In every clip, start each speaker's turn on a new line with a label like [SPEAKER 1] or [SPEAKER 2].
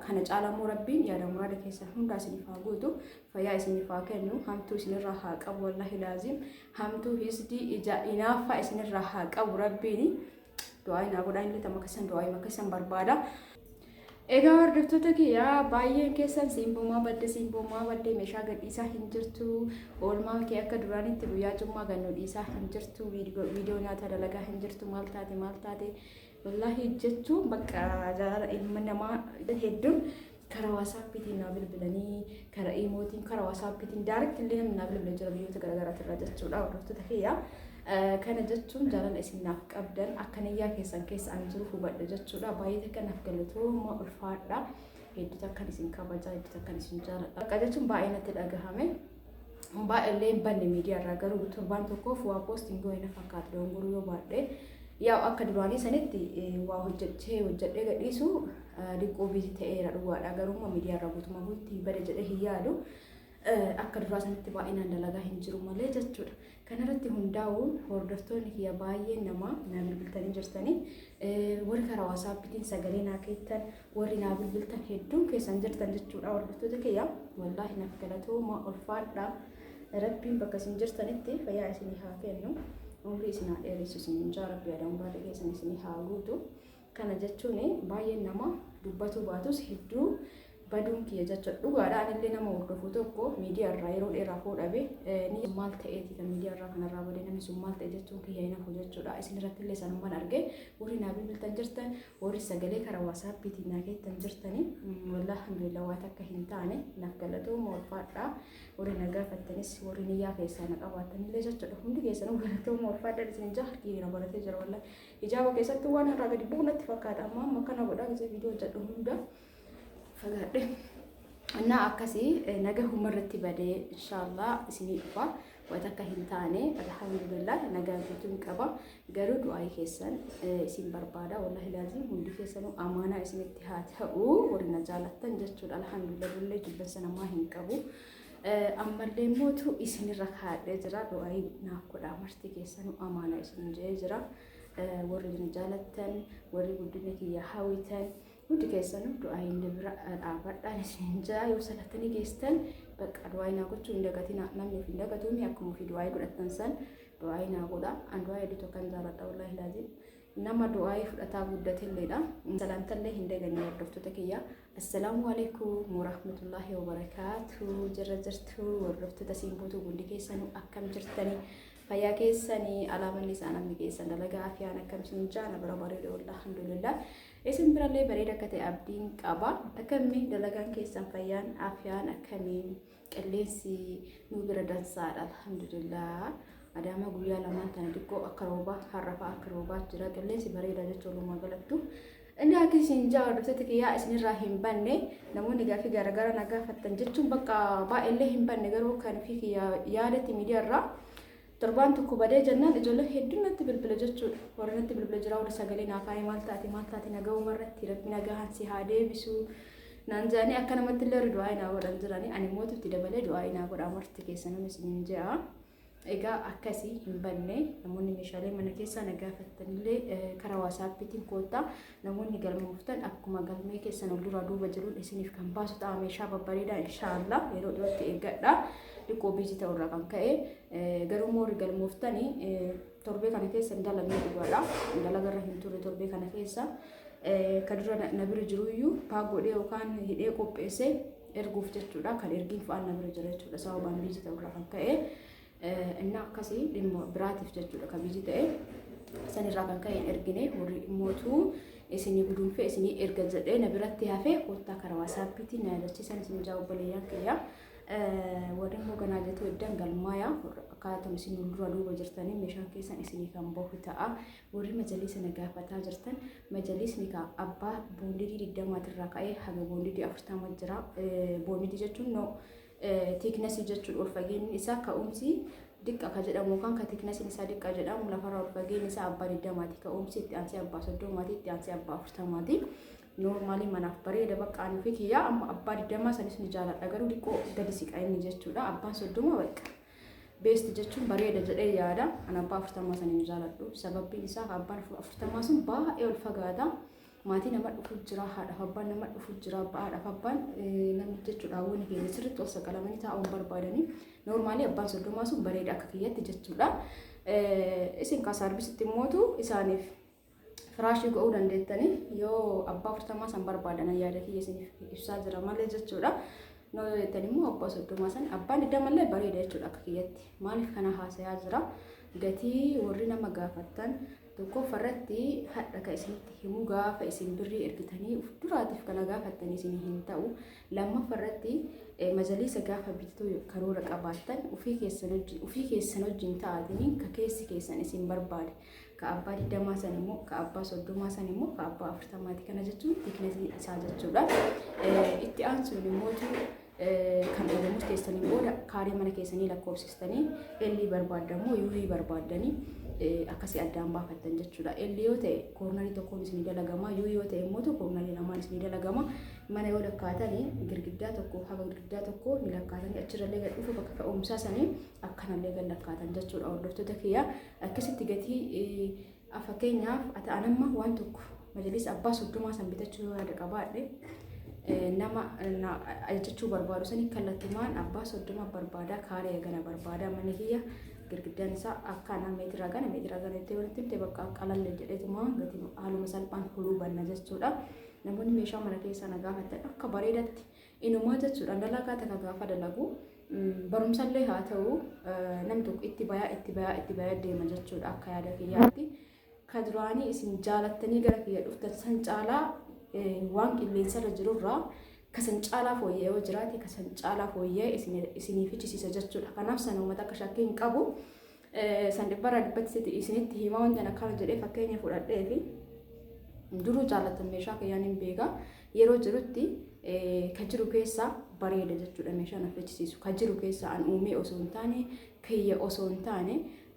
[SPEAKER 1] kana caalaa immoo rabbiin yaada muraada keessan hundaa isiniif haa guutu fayyaa isiniif haa kennu hamtuu isinirraa haa qabu wallahi laaziim hamtuu hisdii ija inaaffaa isinirraa haa qabu rabbiin du'aa inaa godhaa inni tamma keessan du'aa ima keessan barbaada. Egaa hordoftoota kiyyaa baay'een keessan simboomaa badde simboomaa badde meeshaa gadhiisaa hin jirtu oolmaa kee akka duraanitti guyyaa cummaa gannoo dhiisaa hin jirtu viidiyoo nyaata dalagaa hin jirtu maal taate maal taate Wallaahi jechuun bakka jaalala ilma namaa hedduun karaa waasaappiitiin naa bilbilanii karaa iimootiin karaa waasaappiitiin daaretti illee namni naa bilbila jira biyyoota garaagaraatti irraa jechuudha hordoftoota kiyya. Kana jechuun jaalala isin naaf qabdan akka niyyaa keessan keessa ani jiru hubadha jechuudha. Baay'ee takka naaf galatooma ulfaadha. Hedduu takkan isin kabajaa hedduu takkan isin jaaladha. Bakka jechuun baay'ee natti dhagahame. Homaa illee hin banne miidiyaa irraa garuu torbaan tokkoof waa poosti hin goone na fakkaata dogongoruu yoo baadhee yaa akka duraanii sanitti waa hojjechee hojjedhee gadhiisu diqqoo biizi ta'eera dhugaadha garuu miidiyaa irraa guutumaa guutti bada jedhee hin yaadu akka duraa sanitti baay'inaan dalagaa hin jiru malee jechuudha. Kanarratti hundaa'uun hordoftoonni kiyya baay'een namaa naa bilbiltanii jirtanii. Warri karaa wasaappitiin sagalee naa keettan, warri naa bilbiltan hedduun keessan jirtan jechuudha hordoftoota kiyya. Wallaahi naaf galatooma ulfaadha. Rabbiin bakka isin jirtanitti fayyaa isinii haa kennu. Umrii isin haa dheeressu isin jaa rabbi adaan baada keessan isinii haa guutu. Kana jechuun baay'een nama dubbatuu baatus hedduu baduun kiyya jechuudha. Dhugaadha anillee nama hordofu tokko miidiyaa irraa yeroo dheeraaf hoo dhabe ni maal ta'eeti kan miidiyaa irraa kanarraa bade namni sun maal ta'e jechuun kiyya hin hafu jechuudha. Isin irratti illee sanumman arge warri naa bilbiltan jirtan warri sagalee karaa waasaappiitiin naa keettan jirtanii wallah alhamdulillah waa takka hin taane naaf galatooma ulfaadhaa warri na gaafattanis warri niyyaa keessaa na qabaattanillee jechuudha hundi keessanuu galatooma ulfaadhaa isin jaha harki na baratee jira wallah Hijaaba keessatti waan irraa gadi bu'u natti fakkaata amma amma kana godhaa gisee viidiyoo hojjedhu hunda fagaadhe. Annaa akkasii naga humna irratti badee inshaallah isinii dhufa wata akka hin taane alhamdulillah nagaa guutuun qaba garuu du'aa'ii keessan isin barbaada wallahi laazim hundi keessanuu amaanaa isinitti haa ta'u warri na jaalattan jechuudha alhamdulillah illee jibbansa namaa hin qabu. ammallee mootu isinirra kaadhee jira du'aayi naaf godhaa marti keessanuu amaanaa isin jee jira warri na jaalattan warri guddina kiyya hawwitan hundi keessanuu du'aayi inni bira dhaabadhaan isin jaa yoo salattanii geestan bakka du'aayi naa gochuu hin dagatina namni of hin dagatuumi akkuma ofii du'aayi godhattan san du'aayi naa godha an du'aayi hedduu tokkan jaaladha wallaahi laaziim nama du'aayi fudhataa guddatilleedha salaamtallee hin daganne hordoftoota kiyya Assalaamu alaikum warahmatullahi wabarakaatuh jirra jirtu hordoftoota siin guutuu hundi keessanuu akkam jirtani fayyaa keessani alaamanni isaa namni keessan dalagaa afiyaan akkam siin jaana bara bareeda wallah alhamdulillah isin birallee bareeda akka ta'e abdiin qaba akkamni dalagaan keessan fayyaan afiyaan akkamiin Qilleensi nu bira dansaadha alhamdulillah. Adaamaa guyyaa lamaan tana xiqqoo akka roobaa har'a fa'aa akka roobaa jira. Qilleensi bareedaa jecha walumaa galattu. Inni akka isin ja'a hordoftoota kiyyaa isinirraa hin banne namoonni gaaffii garaagaraa na gaafattan jechuun bakka baay'eellee hin banne garuu kan fi kiyyaa yaadatti miidiyaarraa Torbaan tokko badee jennaan ijoolleen hedduun natti bilbila jechuudha. Warri natti bilbila jiraa warri sagalee naa kaa'ee maal taate maal taate nagahuma irratti rabbi nagahaan si haa deebisu naan jedhanii akka namatti illee warri du'aa naa godhan jiranii ani mootu itti dabalee du'aa naa godhaa marti keessanuu isiniin jedha. Egaa akkasii hin banne namoonni meeshaalee mana keessaa na gaafattanillee karaa waasaappiitiin koottaa Namoonni galmooftan akkuma galmee keessan ol duraa duuba jiruun isiniif kan baasu ta'a meeshaa babbareedaa inshaallah yeroo dhiyootti eeggadha dhiqoo biizii ta'u irraa kan ka'e garuu moorri galmooftan torbee kana keessa hin dalagne dhugaadha dalaga irra hin turre torbee kana keessa kan dura na bira jiru iyyuu paak godhee yookaan hidhee qopheessee erguuf jechuudha kan ergiin fa'aan na bira jira jechuudha sababaan biizii ta'u irraa kan ka'e. Innaa akkasii dhimma biraatiif jechuudha ka biizii ta'e. San irraa kan ka'e hin ergine horii mootuu isinii gudunfee isinii erga jedhee na biratti hafee koottaa karaa waasaappiitii na yaadachiisan isin ijaa obboleeyyan kiyya. Warri immoo ganaa jetuu eddan galmaaya akkaataa isin dura duuba jirtanii meeshaan keessan isinii kan bahu ta'a. Warri majaliisa na gaafataa jirtan majaliisni ka abbaa boondidii digdamaatirraa ka'ee haga boondidii afurtama jira. Boondidii jechuun noo Thickness jechuun ol fageenyi isaa ka'umsi diqqa ka jedhamu yookaan ka thickness isaa diqqa jedhamu lafarraa ol fageenyi isaa abbaa 20ti ka'umsi itti aansee abbaa 30ti itti aansee abbaa 40ti noormaalii manaaf bareeda bakka ani fi kiyyaa amma abbaa 20 sanis ni jaaladha garuu diqqoo gadi siqa inni jechuudha abbaan 30 bakka beest jechuun bareeda jedhee yaada an abbaa 40 sana ni jaaladhu sababiin isaa abbaan 40 sun baay'ee ol fagaata maatii nama dhufu jira haadhaaf abbaan nama dhufu jira abbaa haadhaaf abbaan namni jechuudha hawwani keenya sirriitti ol saqalamanii taa'uun barbaadanii noormaalii abbaan soddomaa sun bareeda akka kiyyatti jechuudha. Isin kaa saarbisitti immootu isaaniif firaashii go'uu dandeettanii yoo abbaa afurtamaa san barbaadan yaada kiyya isiniif ibsaa jira malee jechuudha. Noo yoo jettan immoo abbaa soddomaa san abbaan iddamallee bareeda jechuudha akka kiyyatti maaliif kana haasayaa jira gatii warri nama gaafattan 1ffaa irratti hadha ka isinitti himu gaafa isin birrii ergitanii uf duraatiif kana gaafattanii isin hin ta'u 2ffaa irratti majaliisa gaafa bittuu karoora qabaattan ufii keessan wajjin ufii keessan wajjin ta'aatanii ka keessi keessan isin barbaade ka abbaa digdamaa san immoo ka abbaa soddomaa san immoo ka abbaa afurtamaati kana jechuun tiknetii isaa jechuudha itti aansuun immoo kan erga murteessanii booda kaarii mana keessanii lakkoofsistanii L barbaaddamoo U barbaaddanii akkasii addaan baafattan jechuudha. L yoo ta'e koornarii tokkoon isin dalagama U yoo ta'e immoo koornarii lamaan isin dalagama mana yoo lakkaatanii girgiddaa tokko haga girgiddaa tokko ni lakkaatanii achirrallee gad dhufu bakka ka'umsaa sanii akkanallee gad lakkaatan jechuudha hordoftoota kiyya akkasitti gatii A Fakkeenyaaf ati an amma waan tokko majlis abbaa soddomaa san bitachuu yoo yaada qabaadhe nama ajajachuu barbaadu sanii kallattumaan abbaa soddoma barbaadaa kaaree gana barbaadaa mana kiyya girgiddaan isaa akka anaa meetiraa gana meetiraa gana itti walitti himte bakka qalalle jedheetuma gati haaluma salphaan huluu banna jechuudha. Namoonni meeshaa mana keessaa na gaafatan akka bareedatti Inumaa jechuudha dalagaa takka gaafa dalagu barumsallee haa ta'u nam tokko itti bayaa itti bayaa itti bayaa deema jechuudha akka yaada kiyyaatti. Ka duraanii isin jaalattanii gara kiyya dhuftan san caalaa waan qilleensarra jirurraa ka san caalaa fooyya'ee yoo jiraate ka san caalaa fooyya'ee isinii fichisiisa jechuudha. Kanaaf san uummata akka shakkii hin qabu. San dhibbarraa dhibbatti sitti isinitti hima wantan akkana jedhee fakkeenya fudhadhee fi duruu jaallattan meeshaa kiyyaan hin beeka yeroo jirutti ka jiru keessaa bareeda jechuudha meeshaa na fechisiisu ka jiru keessaa an uumee osoo hin taane kiyya osoo hin taane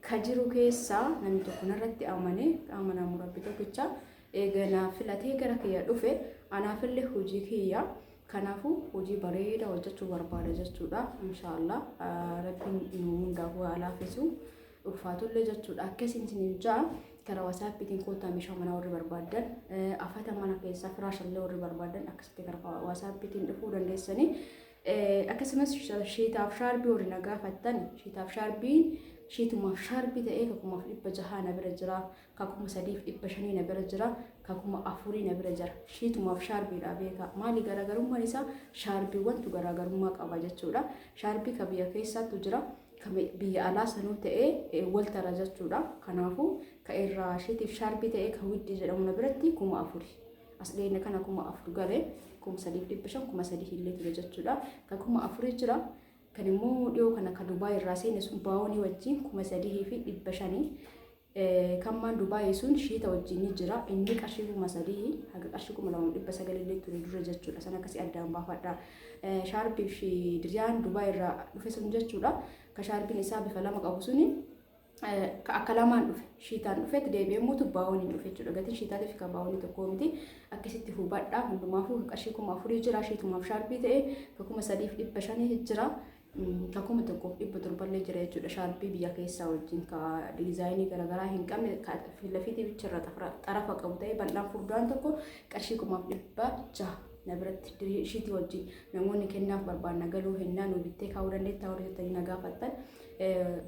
[SPEAKER 1] ka jiru keessaa namni tokko narratti amanee qaama naamuu rabbi tokkicha eega naa filatee gara kiyya dhufe anaafillee hojii kiyya Kanaafu hojii bareeda hojjachuu barbaada jechuudha. Insha Allah rabbiin nu hundaafuu haa laafisu. Ulfaatullee jechuudha. Akka isin isiniif ja'a karaa wasaappiitiin kootaa meeshaa manaa warri barbaaddan afata mana keessaa firaashallee warri barbaaddan akkasitti karaa wasaappiitiin dhufuu dandeessanii. Akkasumas shiitaaf shaarbii warri na gaafattan shiitaaf shaarbii shiitumaaf shaarbii ta'ee tokkumaaf dhibba jahaa na bira jira. ka kuma sadiif dhibba shanii na bira jira ka kuma afurii na bira jira shiitumaaf shaarbiidha beekaa maali garaagarummaan isaa shaarbiiwwantu garaagarummaa qaba jechuudha shaarbii ka biyya keessaattu jira ka biyya alaa sanuu ta'ee waltara jechuudha kanaafuu ka irraa shiitiif shaarbii ta'ee ka widdii jedhamu na biratti kuma afurii as dhiyeenya kana kuma afur galee kuma sadiif dhibba shan kuma sadii illee ture jechuudha ka kuma afurii jira kan immoo dhiyoo kana ka dubaay irraa seene sun baawonii wajjin kuma sadii fi dhibba shanii Kan maan Dubai sun shiita wajjin ni jira. Inni qarshii kuma sadii haga qarshii kuma lama dhibba sagal illee ture dura jechuudha. San akkasii addaan baafadha. Shaarbii fi diriyaan Dubai irraa dhufe sun jechuudha. Ka shaarbiin isaa bifa lama qabu suni ka akka lamaan dhufe shiitaan dhufetti deebi'ee immoo tubbaawwan hin dhufe jechuudha. Gatiin shiitaatii fi kabbaawwanii tokkoo miti. Akkasitti hubadha. Hundumaafuu qarshii kuma afurii jira. Shiitumaaf shaarbii ta'e ka kuma sadiif dhibba shanii jira. ka kuma tokkoof dhibba torballee jira jechuudha shaarpii biyya keessaa wajjin ka diizaayinii garaagaraa hin qabne ka filafiitii bicharra xarafa qabu ta'ee bal'aan furdaan tokko qarshii kumaaf dhibba jaha na biratti dirii ishiitii wajjin namoonni kennaaf barbaanna galuu hennaa nu bittee kaa'uu dandeettaa warri jettanii na gaafattan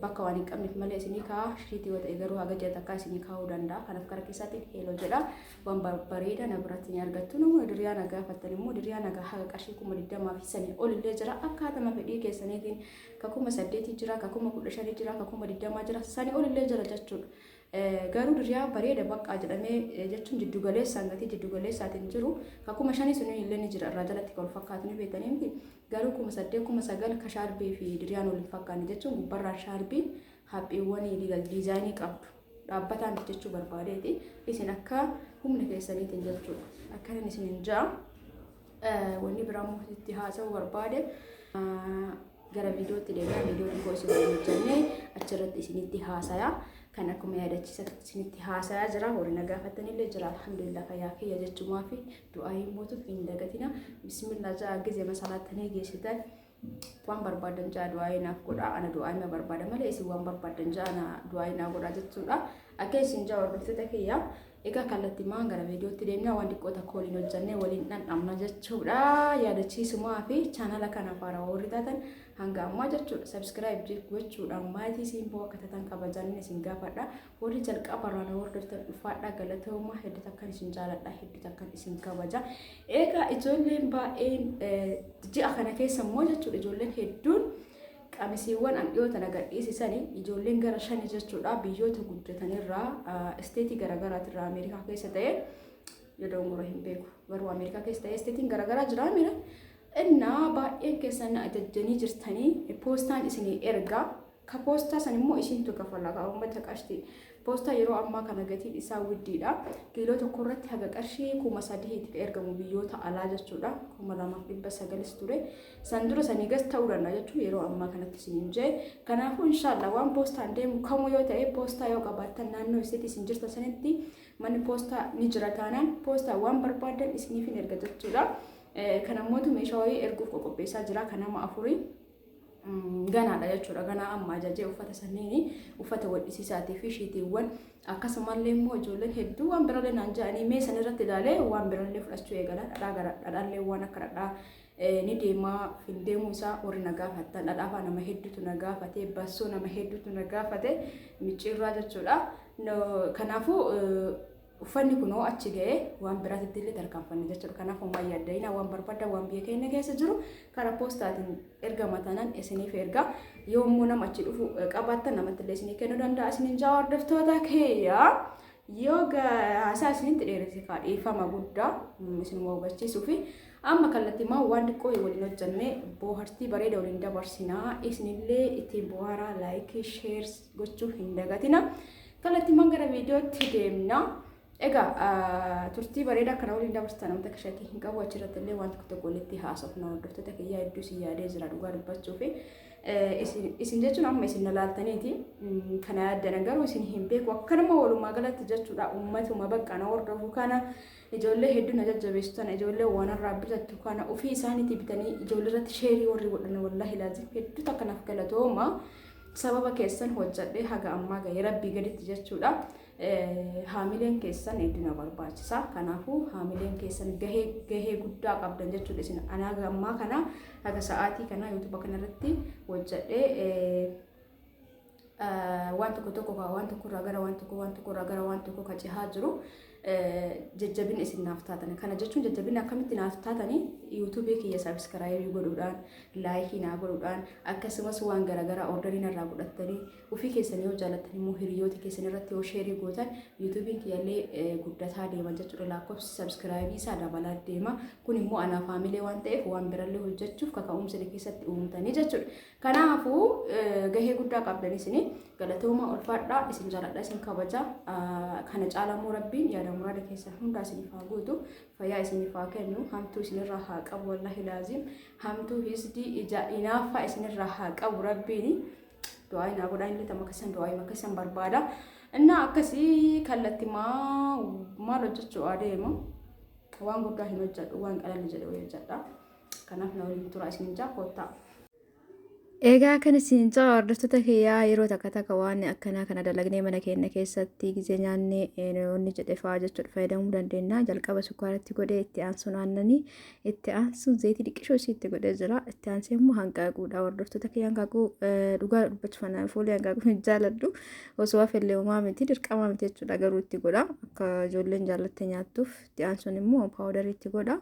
[SPEAKER 1] bakka waan hin qabneef malee isinii kaa'aa ishiitii yoo ta'e garuu haga jedha takkaa isinii kaa'uu danda'a kanaaf gara keessaatiin heeloo jedha. waan barbareeda na biratti ni argattu nama diriyaa na gaafattan immoo diriyaa na haga qarshii kuma digdamaa fi sanii olillee jira akkaatama fedhii keessaniitiin ka kuma saddeetii jira ka kuma kudha shanii jira ka kuma digdamaa jira sanii olillee jira jechuudha. Garuu diriyaa bareeda baqqaa jedhamee jechuun jiddu galeessaan gatii jiddu galeessaatiin jiru ka kuma shanii suniin illee ni jira irraa jalatti kan fakkaatu ni beekanii miti garuu kuma saddeet kuma sagal ka shaarbii fi diriyaan waliin fakkaanne jechuun gubbarraa shaarbiin haphiiwwanii diizaayinii qabdu. dhaabbataa miti jechuu barbaadeeti. Isin akka humna keessaniitiin jechuudha. Akkanan isin hin ja'a. Wanni biraa immoo itti haasa'uu barbaade gara viidiyootti deemaa viidiyoo xiqqoo isin waliin jennee achirratti isinitti haasaya. Kan akkuma yaadachiisa isinitti haasaya jira. Warri na gaafatanillee jira. Alhamdulillah fayyaa kiyya jechumaa fi du'aa hin mootuuf hin dagatina. Bismillah ja'a gizee masalaatanii geessitan. waan barbaadan ja'a du'aa'ee naaf godhaa ana du'aa'ee na barbaada malee isin waan barbaadan ja'a na du'aa'ee naa godhaa jechuudha akka isin ja'a hordoftoota kiyya egaa kallattii maan gara viidiyootti deemnaa waan xiqqoo takka waliin hojjannee waliin dhandhamna jechuudha yaadachiisumaa fi chaanala kana faara warri taatan hanga ammaa jechuudha sabskiraayib gochuudhaan maatii siin boo akka taatan kabajaan isin gaafadha Warri jalqaba irraa na hordoftan dhufaadhaa galatoomaa hedduu takkan isin jaaladhaa hedduu takkan isin kabaja. Egaa ijoolleen baay'een eh, ji'a kana keessa immoo jechuudha ijoolleen hedduun qamisiiwwan an dhiyoo tana gadhiisisani ijoolleen gara shani jechuudha biyyoota guddatanirraa ah, isteetii garaagaraatirraa Ameerikaa keessa ta'e yeroon gora hin beeku garuu Ameerikaa keessa ta'e isteetiin garaagaraa jira mira innaa baay'een keessan na ajajjanii jirtanii poostaan isinii ergaa Ka poostaa san immoo isiintu kafala kaa ummata qashti. Poostaa yeroo ammaa kana gatiin isaa widdiidha. Kiiloo tokko irratti haga qarshii kuma sadihiiti ka ergamu biyyoota alaa jechuudha. kuma lamaaf dhibba sagalis ture. San dura sanii gas ta'uu danda'a jechuun yeroo ammaa kanatti isiniin jee. Kanaafuu inshaallah waan poostaan deemu kamuu yoo ta'e poostaa yoo qabaattan naannoo isitti isin jirtan sanitti manni poostaa ni jira taanaan poostaa waan barbaadan isiniif hin erga jechuudha. Kan ammootu meeshaa wayii erguuf qoqopheessaa jira kan nama afurii. ganaadha jechuudha. Ganaa amma ajajee uffata sanniini uffata wadhisisaatii fi shiitiiwwan akkasumallee immoo ijoolleen hedduu waan birallee naan ja'anii mee san irratti ilaalee waan birallee fudhachuu eegala dhadhaa gara dhadhaallee waan akka dhadhaa ni deemaa hin deemuu isaa warri na gaafatan dhadhaafaa nama hedduutu na gaafate bassoo nama hedduutu na gaafate micciirraa jechuudha. Kanaafuu Uffanni kun hoo achi ga'ee waan biraatitti illee tarkaanfanna jechuudha. Kanaaf homaa yaadda'ina waan barbaadda waan biyya keenya keessa jiru karaa poostaatiin ergama tanan isiniif erga. Yoo immoo nama achi dhufu qabaattan namatti illee isinii kennuu danda'a isiniin jaa hordoftoota keeyya. Yoo haasaa isinitti dheeresse kaa dhiifama guddaa isin hubachiisuu fi amma kallattimaa waan xiqqoo waliin hojjannee boohartii bareeda waliin dabarsinaa isinillee ittiin booharaa laayikii sheers gochuu hin dagatina. Kallattiiwwan gara viidiyootti deemna. Egaa turtii bareedaa kana waliin dabarsitan wanta akka shakkii hin qabu achirratti illee waan tokko tokko walitti haasofna hordoftoota kiyyaa hedduu isin yaadee jira dhugaa dubbachuu fi isin jechuun amma isin nalaaltaniiti kana yaaddana garuu isin hin beeku akkanuma walumaa galatti jechuudha ummatuma bakka na hordofu kana Ijoollee hedduu na jajjabeessu tana ijoollee waanarraa bitattu kana ofii isaaniitii bitanii ijoollee irratti sheerii warri godhan wallaahi laazim hedduu takka naaf galatooma sababa keessan hojjadhee haga ammaa ga'e rabbii gaditti jechuudha. Haamileen keessan hedduu na barbaachisa. Kanaafuu haamileen keessan gahee gahee guddaa qabdan jechuudha isin anaa haga ammaa kana haga sa'aatii kana yuutuuba kanarratti hojjadhee waan tokko tokko ka waan tokko irraa gara waan tokko waan tokko irraa gara waan tokko ka cehaa jiru jajjabina isin naaf taatan kana jechuun jajjabina akkamitti naaf taatanii yuutuubii kiyya sabiskiraayibii godhuudhaan laayikii naa godhuudhaan akkasumas waan garaagaraa ordarii narraa godhattanii ofii keessanii yoo jaallattan immoo hiriyoota keessan irratti yoo sheerii gootan yuutuubiin kiyyallee guddataa deema jechuudha lakkoofsi sabiskiraayibii isaa dabalaa deema kun immoo anaa faamilee waan ta'eef waan birallee hojjechuuf kaka'umsa keessatti uumtanii jechuudha Kanaafuu gahee guddaa qabdan isin galatooma ulfaadhaa isin jaaladha isin kabaja kana caalaa immoo rabbiin yaada muraada keessan hundaa isiniif haa guutu fayyaa isiniif haa kennu hamtuu isinirraa haa qabu wallahi laaziim hamtuu hisdii ija inaaffaa isinirraa haa qabu rabbiini du'aa inaa godhaa inni tama keessan du'aa ima keessan barbaada innaa akkasii kallatti maa maal hojjechuu adeema waan guddaa hin hojjedhu waan qalalli jedhu hojjedha. Kanaaf na waliin turaa isiniin jaa koottaa.
[SPEAKER 2] Egaa kan isin caa hordoftoota kiyyaa yeroo takka takka waan akkanaa kana dalagnee mana keenya keessatti gizee nyaannee inni jedhe fa'aa jechuudha fayyadamuu dandeenya. Jalqaba sukkaaratti godhee itti aansuun aannanii itti aansuun zayitii dhiqishoo isii itti godhee jira. Itti aansee immoo hanqaaquudha. Hordoftoota kiyya hanqaaquu dhugaa dubbachuuf anaan fuulii hanqaaquu hin jaaladhu. Osoo hafillee homaa miti dirqamaa miti jechuudha garuu itti godha. Akka ijoolleen jaallattee nyaattuuf itti aansuun immoo paawudarii itti godha.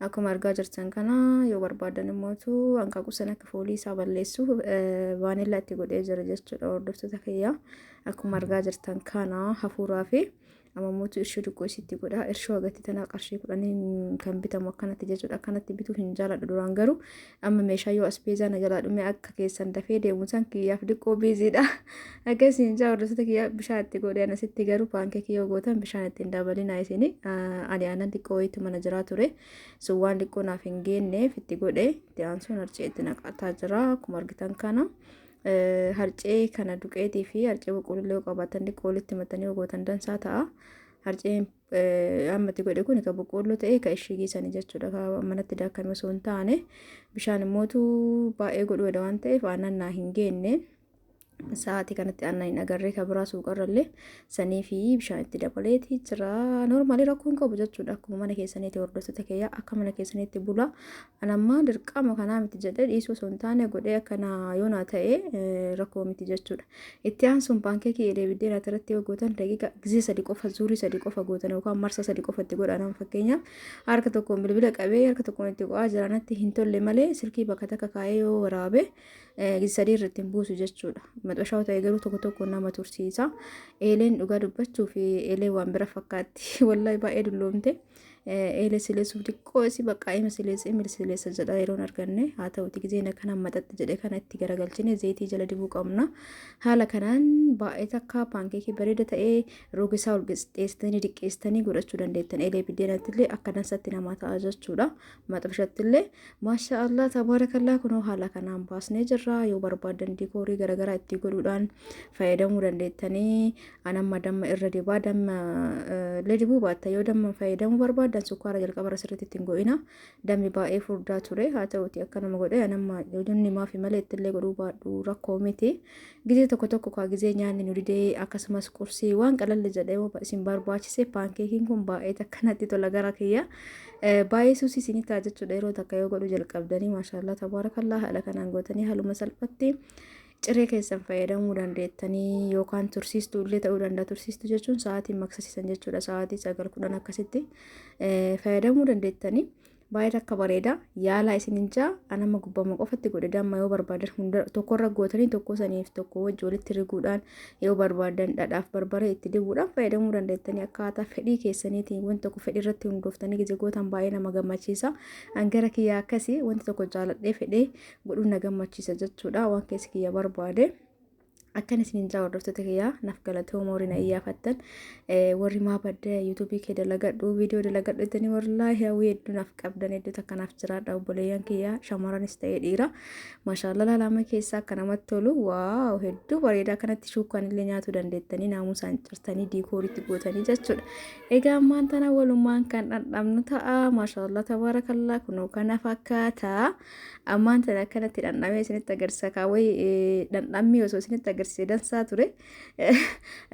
[SPEAKER 2] Akkuma argaa jirtan kana yoo barbaadan immootu hanqaaquu sana akka foolii isaa balleessu vaanillaa itti godhee jira jechuudha hordoftoota kiyyaa. Akkuma argaa jirtan kana hafuuraa fi ammammootu irshoo xiqqoo isitti godha. Irshoo agatti tana qarshii kudhaniin kan bitamu akkanatti jechuudha. Akkanatti bituu hin jaaladhu duraan garuu Amma meeshaa yoo asbeezaa na jalaa dhumee akka keessan dafee deemu san kiyyaaf diqqoo biiziidha. Akkasiin jaa hordoftoota kiyya bishaan itti godhee anasitti garuu paankeekii yoo gootan bishaan itti hin dabalinaa isin ani aanan xiqqoo wayiitu mana jiraa ture. Sun waan xiqqoo naaf hin geenneef itti godhee itti aansuun harcee itti naqataa jira akkuma argitan kana. Harcee kana duqeetii fi harcee boqqoollee yoo qabaatan xiqqoo walitti matanii yoo gootan dansaa ta'a. Harceen ammatti godhe kun ka boqqoolloo ta'ee ka ishigii sani jechuudha ka manatti daakkame osoo hin taane bishaan immootu baay'ee godhuudha waan ta'eef aannan naa hin geenne sa'aatii kanatti aannan hin agarree ka biraa suuqarrallee sanii fi bishaan itti dabaleeti jira noormaalii rakkoo hin qabu jechuudha akkuma mana keessaniiti hordoftoota kiyya akka mana keessaniitti bula Ani ammaa dirqama kanaa miti jedhee dhiisuu osoo hin taane godhee akka naa yoo naa ta'e rakkoo miti jechuudha. Itti aansuun paankeekii eelee biddeen ati irratti yoo gootan daqiiqa gizee sadi qofa zuurii sadi qofa gootan yookaan marsa sadi qofa itti godhan amma fakkeenyaaf harka tokkoon bilbila qabee harka tokkoon itti qo'aa jira natti hin tolle malee silkii bakka takka kaa'ee yoo waraabe gizee sadii irratti hin buusu jechuudha. Maxxashaa ta'e garuu tokko tokko nama tursiisa. Eeleen dhugaa dubbachuu fi eelee waan bira fakkaatti wallahi baay'ee dulloomte. eela sileessuuf xiqqoo isi baqqaa ima sileessa imil sileessa jedha yeroon arganne haa ta'uti gizee na kana maxaxi jedhe kana itti garagalchine zeetii jala dibuu qabna haala kanaan baay'ee takka paankeekii bareeda ta'ee rogisaa ol qixxeessitanii diqqeessitanii godhachuu dandeettan eelee biddeenattillee akka dansatti namaa ta'a jechuudha maxabishattillee maashaa allah tabaarakallaa kunoo haala kanaan baasnee jirra yoo barbaadan diikoorii garaagaraa itti godhuudhaan fayyadamuu dandeettanii An amma damma irra dibaa damma illee dibuu baatta yoo damma fayyadamuu barbaaddan sukkaara jalqabarra sirriitti ittiin go'ina dammi baay'ee furdaa ture haa ta'uti akka nama godhe an amma hojonni maafi malee ittillee godhuu baadhu rakkoo miti gizee tokko tokko kaa gizee nyaanni nu didee akkasumas qursii waan qalalli jedhee yoo isin barbaachise paankeekiin kun baay'ee takkanatti tola gara kiyya baay'ee suusii isin ta'a jechuudha yeroo takka yoo godhu jalqabdanii maashaallah tabaarakallaa haala kanaan gootanii haaluma salphatti Ciree keessan fayyadamuu dandeettanii yookaan tursiistuu illee ta'uu danda'a. Tursiistuu jechuun sa'aatiin maqsisiisan jechuudha. Sa'aatii sagal kudhan akkasitti fayyadamuu dandeettanii. baay'ee akka bareeda yaalaa isin hin jaa anama gubbama qofatti godhe damma yoo barbaadan hunda tokkorra gootanii tokko saniif tokko wajji walitti riguudhaan yoo barbaadan dhadhaaf barbaree itti dibuudhaan fayyadamuu dandeettanii akkaataa fedhii keessaniitiin wanti tokko fedhii irratti hundooftanii gizigootaan baay'ee nama gammachiisa hangara kiyyaa akkasii wanti tokko jaaladhee fedhee godhuun na gammachiisa jechuudha waan keessi kiyya barbaade. akkan isiniin jaa hordoftoota kiyyaa naaf galatooma warri na iyyaafattan warri maa badda yuutuubii kee dalagadhu viidiyoo dalagadhu jettanii wallaahi hawwii hedduu naaf qabdan hedduu takka naaf jiraadha obboleeyyan kiyyaa shamaranis ta'ee dhiira maashaallah laalama keessaa akka namatti tolu waaw hedduu bareeda akkanatti shuukaan illee nyaatuu dandeettanii naamusaan cirtanii diikooritti gootanii jechuudha egaa ammaan tana walumaan kan dhandhamnu ta'a maashaallah tabaarakallaa kunoo kana fakkaata. Ammaan tana akkanatti dhandhamee isinitti agarsiisa kaa wayi dhandhammii osoo isinitti agarsiise dansaa ture.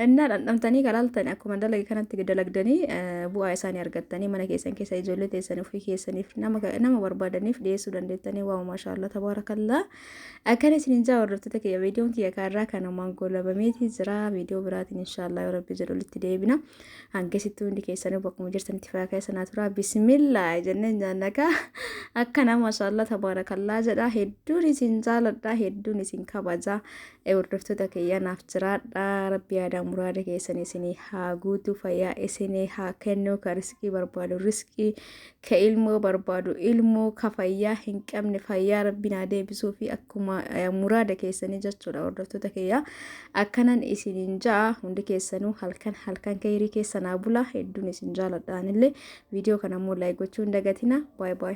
[SPEAKER 2] Innaa dhandhamtanii kalaaltan akkuma dalage kanatti dalagdanii bu'aa isaanii argattanii mana keessan keessa ijoollee teessan ofii keessaniif nama nama barbaadaniif dhiyeessuu dandeettanii waaw maashaallah tabaarakallaa. Akkana isinin jaa hordoftoota kiyya viidiyoon kiyya kaarraa kanumaan goolabameetii jira viidiyoo biraatiin inshaallah yoo rabbi jedhu walitti deebina. Hangasitti hundi keessanuu bakkuma jirtanitti fayyaa keessa naa turaa bismillaa jennee nyaannakaa akka nama mashaallaa tabaarakallaa jedha hedduun isin jaaladha hedduun isin kabaja hordoftoota kiyya naaf jiraadha rabbi yaadaa muraada keessan isinii haa guutu fayyaa isinii haa kennu ka riskii barbaadu riskii ka ilmoo barbaadu ilmoo ka fayyaa hin qabne fayyaa rabbiin haa deebisuu fi akkuma eh, muraada keessanii jechuudha hordoftoota kiyya akkanan isiniin ja'a hundi keessanuu halkan halkan keeyrii keessan haa bulaa hedduun isin jaaladhaanillee viidiyoo kana immoo laayik gochuu hin dagatina baay baay